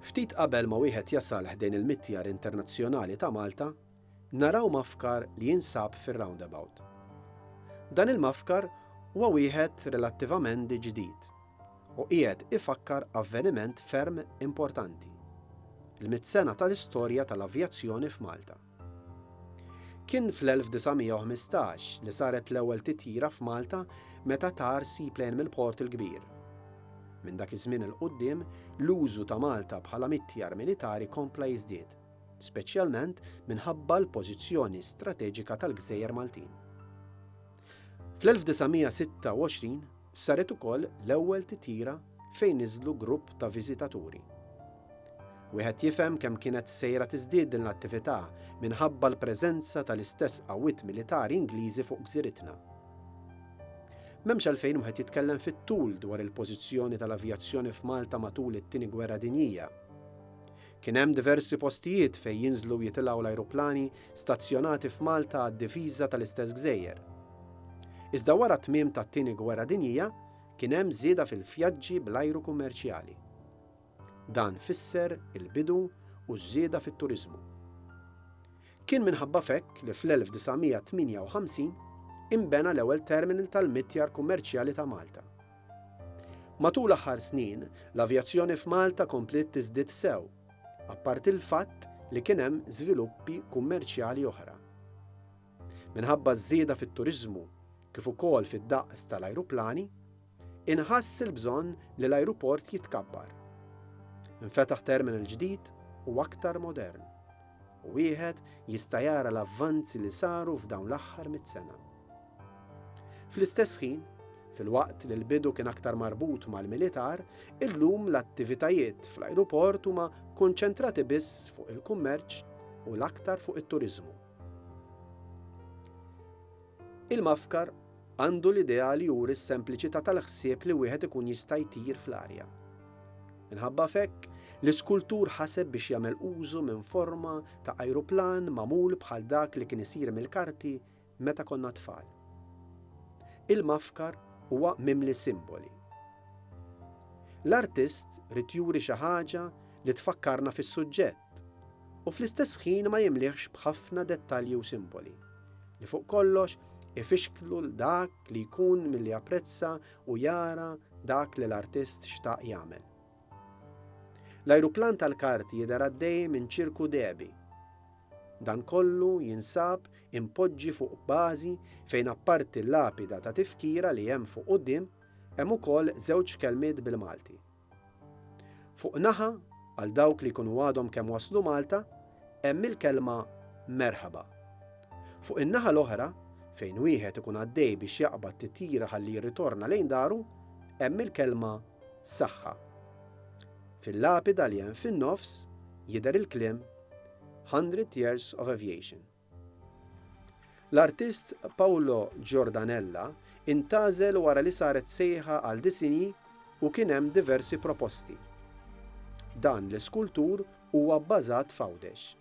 Ftit qabel ma wieħed jasal ħdejn il-Mitjar Internazzjonali ta' Malta, naraw mafkar li jinsab fir-roundabout. Dan il-mafkar huwa wieħed relattivamend ġdid u qiegħed ifakkar avveniment ferm importanti, l-mitt sena tal-istorja tal-avjazzjoni f'Malta. Kien fl-1915 li saret l-ewwel titjira f'Malta meta tar seaplane mill-Port il-Kbir. Minn dak iż-żmien 'il quddiem, l-użu ta' Malta bħala mittjar militari kompla jiżdied, speċjalment minħabba l-pożizzjoni strateġika tal-gżejjer Maltin. Fl-1926, Saret ukoll l-ewwel titjira fejn niżlu grupp ta' viżitaturi. Wieħed jifhem kemm kienet sejra tiżdied din l-attività minħabba l-preżenza tal-istess qawwiet militari Ingliżi fuq gżiritna. M'hemmx għalfejn wieħed jitkellem fit-tul dwar il-pożizzjoni tal-avjazzjoni f'Malta matul it-Tieni Gwerra Dinjija. Kien hemm diversi postijiet fejn jinżlu u jitilgħu l-ajruplani stazzjonati f'Malta għad-difiża tal-istess gżejjer. Iżda wara t-tmiem tat-Tieni Gwerra Dinjija kien hemm żieda fil-vjaġġi bl-ajru kummerċjali. Dan fisser il-bidu u ż-żieda fit-turiżmu. Kien minħabba f'hekk li fl-1958 inbena l-ewwel terminal tal-mitjar kummerċjali ta' Malta. Matul l-aħħar snin, l-avjazzjoni f'Malta kompliet tiżdied sew, apparti l-fatt li kien hemm żviluppi kummerċjali oħra. Minħabba ż-żieda fit-turiżmu kif ukoll fid-daqs tal-ajruplani, inħass il-bżonn li l-ajruport jitkabbar. Infetaħ terminal ġdid u aktar modern, u wieħed jista' jara l-avvanzi li saru f'dawn l-aħħar mitt sena. Fl-istess ħin, filwaqt li l-bidu kien aktar marbut mal-militar, illum l-attivitajiet fl-ajruport huma konċentrati biss fuq il-kummerċ u l-aktar fuq it-turiżmu. Il-mafkar għandu l-idea li juri s-sempliċità tal-ħsieb li wieħed ikun jista' jtir fl-arja. Minħabba fekk, l-iskultur ħaseb biex jagħmel użu minn forma ta' ajruplan magħmul bħal dak li kien isir mill-karti Meta konna tfal. Il-mafkar huwa mimli simboli. L-artist ried juri xi ħaġa li tfakkarna fis-suġġett u fl-istess ħin ma jimlihx b'ħafna dettalji u simboli, li fuq kollox ifixklu 'l dak li jkun milli japprezza u jara dak li l-artist xtaq jagħmel. L-ajruplan tal-kart jidher għaddej minn ċirku dehbi. Dan kollu jinsab impoġġi fuq bażi fejn apparti l-lapida ta' tifkira li hemm fuq quddiem, hemm ukoll żewġ kelmiet bil-Malti. Fuq naħa, għal dawk li jkunu għadhom kemm waslu Malta, hemm il-kelma Merħba. Fuq in-naħa l-oħra, fejn wieħed ikun għaddej biex jaqbad titjira ħalli jirritorna lejn daru, hemm il-kelma Saħħa. Fil-lapida li hemm fin-nofs jidher il-kliem Hundred Years of Aviation. L-artist Paolo Giordanella intgħażel wara li saret sejħa għal disinji u kien hemm diversi proposti. Dan l-iskultur huwa bbażat f'Għawdex.